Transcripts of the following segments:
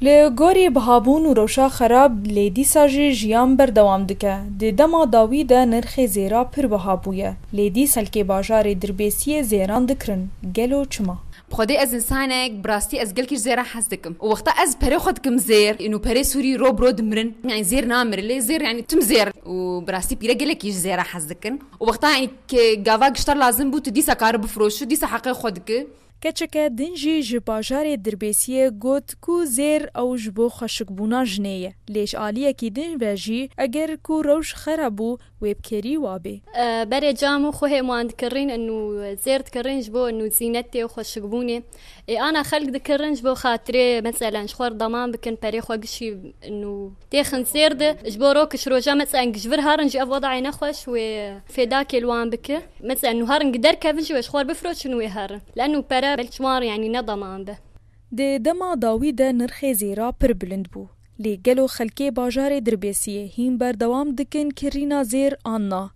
Li gorî bihabûn û rewşa xerab lê dîsa jî jiyan berdewam dike. Di dema dawî de nirxê zêra pir biha bûye lê dîs xelkê bajarê dirbêsiyê zêran dikirin. Gelo çima? Bi xwedê ez însanek bi rastî ez gelkî ji zêran hez dikim û wexta ez perê xwe dikim zêr û perê sûrî ro bi ro dimirin yanî zêr namire lê zêr yanî tim zêr û bi rastî pîre gelekî ji zêran hez dikin û wexta yanî ke gava giştar lazim bû tu dîsa kari bifiroşî dîsa heqê xwe diki. Keçike din jî ji bajarê Dirbêsiyê got ku zêr ew ji bo xweşikbûna jinê ye. Lê ji aliyekî din ve jî eger ku rewş xera bû wê bi kêrî wabê. Berê cam û xwehê wan dikirîn û zêr dikirîn ji bo zînetê û xweşikbûnê. Ê ana xelk dikirin ji bo xatirê meselen ji xwe deman bikin perê xwe gişî û Tê xin sêr di ji bo rok ji roja metseng ji vir harin jî ev wedayê nexweş wê fêdakê li wan bike. Metseng nû harin gider kevin jî wê ji xwe bifroçin wê herin. Leno pere belk ji wan yanî ne dema em be. Di dema dawî de nirxê zêra pir bilind bû. Lê gelo xelkê bajarê Dirbêsiyê hîn berdewam dikin kirîna zêr an na?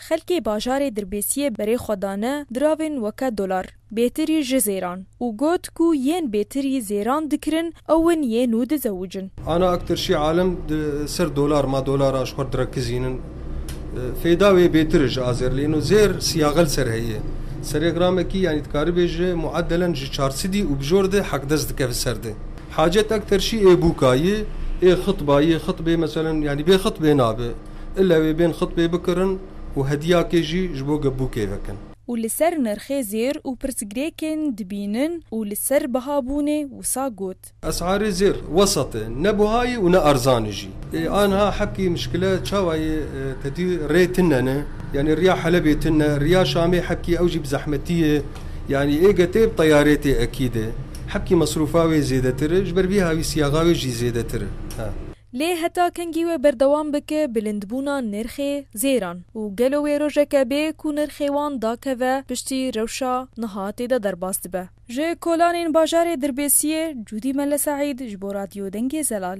Xelkê bajarê Dirbêsiyê berê xwe dane diravên weke dolar, bêtirî ji zêran û got ku yên bêtirî zêran dikirin ew in yê nû dizewicin. Ana Akterşî Alem di ser dolar ma dolaran ji xwe direkizînin. Fêda wê bêtir e ji azerliyên û zêr siyagel ser heye. Serê gramekî yanî dikaribê ji muedelen ji çar sidî û bi jor de hekdes dikeve ser de. Hacet Akterşî ê bûka yê, ê xitba yê, xitbê meselen yanî bê xitbê nabe. Île wê bên xutbê bikirin û hediyakê jî ji bo gebûkê vekin. û li ser nirxê zêr û pirsgirêkên dibînin û li ser bihabûnê wisa got. Es'arê zêr, wesat e, ne buha ye û ne erzan e jî. Ê aniha hepkî mişkile çawa ye tedî rê tune ne, yanî riya Helebê tune, riya Şamê hepkî ew jî bi zehmetî ye, yanî ê getê bi teyarê tê ekîd e. Hepkî mesrûfa wê zêdetir e, ji ber vî havî siyaxa wê jî zêdetir e. Lê heta kengî wê berdewam bike bilindbûna nirxê zêran û gelo wê rojeke bê ku nirxê wan dakeve piştî rewşa niha tê de derbas dibe. Ji kolanên bajarê Dirbêsiyê, Cûdî Melle Seîd ji bo Radyo Dengê Zelal.